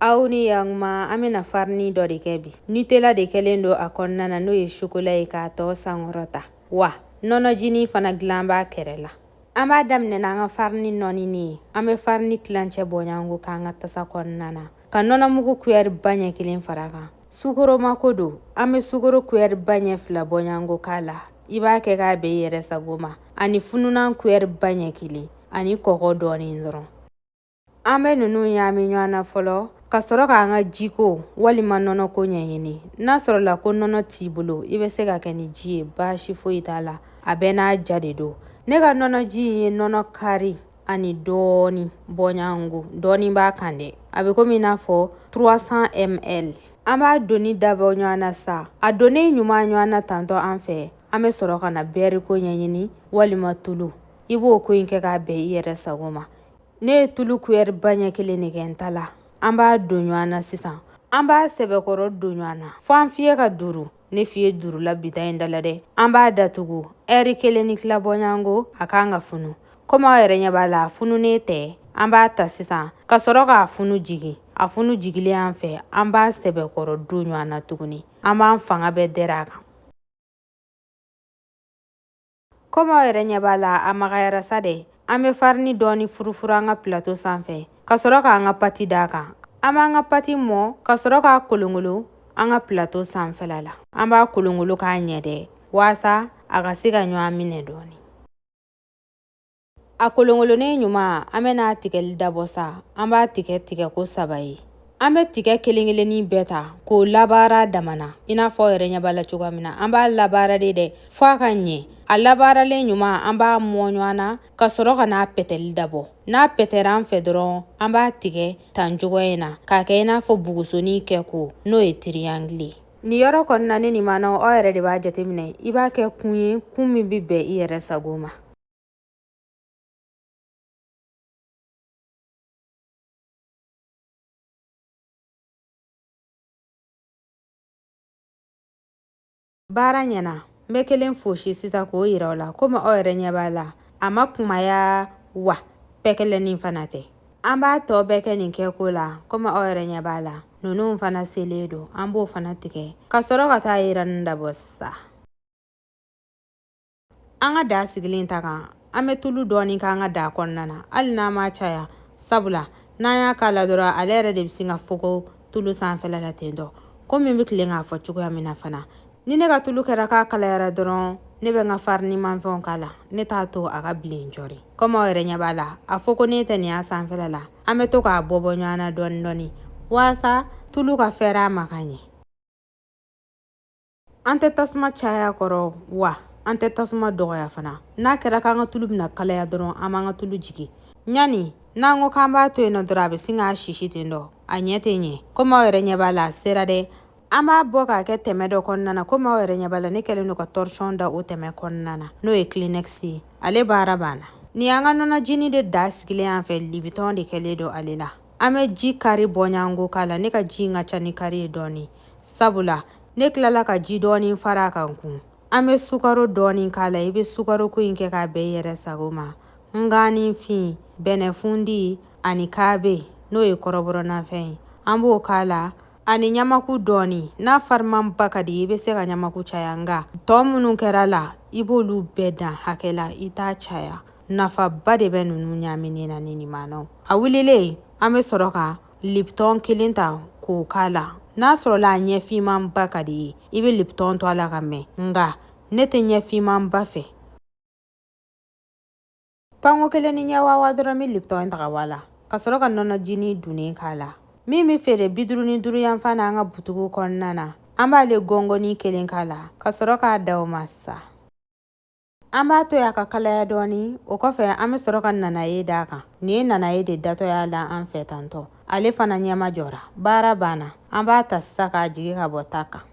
aw ni yanguma an bɛna farini dɔ de kɛ bi nutela de kɛlen don a kɔnɔna na n'o ye sokola ye k'a tɔgɔ sankɔrɔta wa nɔnɔjini fana dilan b'a kɛrɛ la an b'a daminɛ n'an ka farini nɔɔnini ye an bɛ farini tilancɛ bɔɲɔgɔnko k'an ka tasa kɔnɔna na ka nɔnɔmugu kuyɛri ba ɲɛ kelen far'a kan sukoro mako don an bɛ sukoro kuyɛri ba ɲɛ fila bɔɲɔgɔnko k'a la i b'a kɛ k'a bɛn i yɛrɛ sago ma ani fununan kuyɛri ba ɲɛ kelen ani kɔgɔ dɔɔnin dɔrɔn An bɛ ninnu ɲami ɲɔgɔn na fɔlɔ ka sɔrɔ k'an ka jiko walima nɔnɔko ɲɛɲini n'a sɔrɔla ko nɔnɔ t'i bolo i bɛ se k'a kɛ ni ji ye baasi foyi t'a la a bɛɛ n'a ja de don ne ka nɔnɔji in ye nɔnɔ kari ani dɔɔni bɔɲɔgɔnko dɔɔni b'a kan dɛ a bɛ komi i n'a fɔ 300 ml an b'a donni dabɔ ɲɔgɔn na sa a donnen ɲuman ɲɔgɔn na tantɔ an fɛ an bɛ sɔrɔ ka na bɛɛriko ɲɛɲini walima tulu i b'o ko in kɛ k'a bɛn i yɛrɛ sago ma ne ye tulu kuyɛri ba ɲɛ kelen de kɛ n ta la an b'a don ɲɔgɔn na sisan an b'a sɛbɛkɔrɔ don ɲɔgɔn na fo an fiyɛ ka duuru ne fiyɛ duurula bi ta in da la dɛ an b'a datugu ɛri kelen ni tila bɔɲɔgɔnko a kan ka funu komi aw yɛrɛ ɲɛ b'a la a fununen tɛ an b'a ta sisan ka sɔrɔ k'a funu jigin a funu jigilen an fɛ an b'a sɛbɛkɔrɔ don ɲɔgɔn na tuguni an b'an fanga bɛɛ dɛrɛ a kan Komi aw yɛrɛ ɲɛ b'a la a magayara sa dɛ an bɛ farini dɔɔni furufuru an ka plateau sanfɛ ka sɔrɔ k'an ka pati d'a kan an b'an ka pati mɔ ka sɔrɔ k'a kolonkolon an ka plateau sanfɛla la an b'a kolonkolon k'a ɲɛ dɛ waasa a ka se ka ɲɔgɔn minɛ dɔɔni A kolonkolonnen ɲuman an bɛ n'a tigɛli dabɔ sa an b'a tigɛ tigɛ ko saba ye an bɛ tigɛ kelen-kelennin bɛɛ ta k'o labaara damana i n'a fɔ aw yɛrɛ ɲɛ b'a la cogoya min na an b'a labaara de dɛ fo a ka ɲɛ a labaaralen ɲuman an b'a mɔ ɲɔgɔn na ka sɔrɔ ka n'a pɛtɛli dabɔ n'a pɛtɛra an fɛ dɔrɔn an b'a tigɛ tan cogo in na k'a kɛ i n'a fɔ bugusonin kɛko n'o ye tiriyangile nin yɔrɔ kɔni na ni nin mana aw yɛrɛ de b'a jateminɛ i b'a kɛ kun ye kun min bɛ bɛn i yɛrɛ sago ma baara ɲɛna n bɛ kelen fosi sisan k'o yira aw la komi aw yɛrɛ ɲɛ b'a la a ma kumaya wa pɛkɛlɛnin fana tɛ an b'a tɔ bɛɛ kɛ nin kɛko la komi aw yɛrɛ ɲɛ b'a la ninnu fana selen don an b'o fana tigɛ ka sɔrɔ ka taa yiranni dabɔ sisan an ka da sigilen ta kan an bɛ tulu dɔɔni k'an ka da kɔnɔna na hali n'a ma caya sabula n'an y'a k'a la dɔrɔn ale yɛrɛ de bɛ sin ka fogo tulu sanfɛla la ten tɔ komi n bɛ tilen k'a fɔ cogoya min na fana ni ne ka tulu kɛra k'a kalayara dɔrɔn ne bɛ n ka farini manfɛnw k'a la ne t'a to a ka bilen cɔri komi aw yɛrɛ ɲɛ b'a la a fogonen tɛ nin y'a sanfɛla la an bɛ to k'a bɔ bɔ ɲɔgɔn na dɔɔni dɔɔni waasa tulu ka fɛɛrɛ a ma ka ɲɛ an tɛ tasuma caya kɔrɔ wa an tɛ tasuma dɔgɔya fana n'a kɛra k'an ka tulu bɛna kalaya dɔrɔn an b'an ka tulu jigin ɲani n'an ko k'an b'a to yen nɔ dɔrɔn a bɛ sin k'a sisi ten dɔ a ɲɛ tɛ ɲɛ komi aw yɛrɛ ɲɛ b'a la a sera dɛ an b'a bɔ k'a kɛ tɛmɛ dɔ kɔnɔna na komi aw yɛrɛ ɲɛ b'a la ne kɛlen don ka torchon da o tɛmɛ kɔnɔna na n'o ye kleenex ye ale baara banna nin y'an ka nɔnɔjini de da sigilen an fɛ libitɔn de kɛlen don ale la an bɛ ji kari bɔɲɔgɔnko k'a la ne ka ji in ka ca ni kari ye dɔɔnin sabula ne tilala ka ji dɔɔnin fara a kan kun an bɛ sukaro dɔɔnin k'a la i bɛ sukaroko in kɛ k'a bɛn i yɛrɛ sago ma nganifin bɛnɛfundi ani kaabe n'o ye kɔrɔbɔrɔnafɛn ye an b'o k'a la ani ɲamaku dɔɔnin n'a farimanba ka di i bɛ se ka ɲamaku caya nka tɔɔ minnu kɛra la i b'olu bɛɛ dan hakɛ la i t'a caya nafaba de bɛ ninnu ɲaminen na ne ni maanaw a wulilen an bɛ sɔrɔ ka liptɔn kelen ta k'o k'a la n'a sɔrɔla a ɲɛfinmanba ka d'i ye i bɛ liptɔn to a la ka mɛn nka ne tɛ ɲɛfinmanba fɛ panko kelen ni ɲɛ wawa dɔrɔn n bɛ liptɔn ta ka bɔ a la ka sɔrɔ ka nɔnɔjini dunnen k'a la min bɛ feere bi duuru ni duuru yan fan na an ka butugu kɔnɔna na an b'ale gɔngɔni kelen k'a la ka sɔrɔ k'a da o ma sa An b'a to y'a ka kalaya dɔɔni o kɔfɛ an bɛ sɔrɔ ka nanaye d'a kan nin ye nanaye de datɔ y'a la an fɛ tantɔ ale fana ɲɛma jɔra baara banna an b'a ta sisan k'a jigi ka bɔ ta kan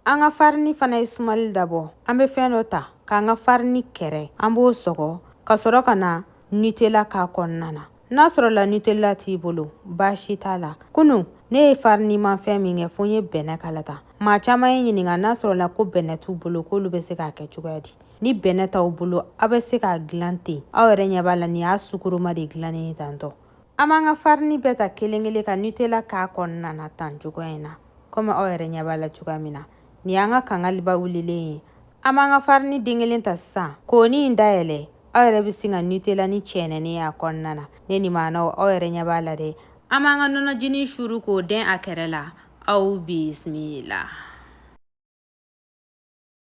an ka farini fana ye sumali dabɔ an bɛ fɛn dɔ ta k'an ka farini kɛrɛ an b'o sɔgɔ ka sɔrɔ ka na nutella k'a kɔnɔna na n'a sɔrɔla nutella t'i bolo baasi t'a la kunu ne ye farinimafɛn min kɛ fo n ye bɛnɛ k'a la tan maa caman ye n ɲininka n'a sɔrɔla ko bɛnɛ t'u bolo k'olu bɛ se k'a kɛ cogoya di ni bɛnɛ t'aw bolo aw bɛ se k'a dilan ten aw yɛrɛ ɲɛ b'a la nin y'a sukoroma de dilannen ye tantɔ an b'an ka farini bɛɛ ta kelen kelen ka nutella k'a kɔnɔna na tan cogoya in na komi aw yɛrɛ ɲɛ b'a la cogoya min na nin y'an ka kangaliba wulilen ye an b'an ka farini den kelen ta sisan k'o ni in dayɛlɛ aw yɛrɛ bɛ sin ka nutella ni cɛnɛnen y'a kɔnɔna na ne ni maanaw aw yɛrɛ ɲɛ b'a la dɛ an b'an ka nɔnɔjinin suru k'o dɛn a kɛrɛ la aw bisimila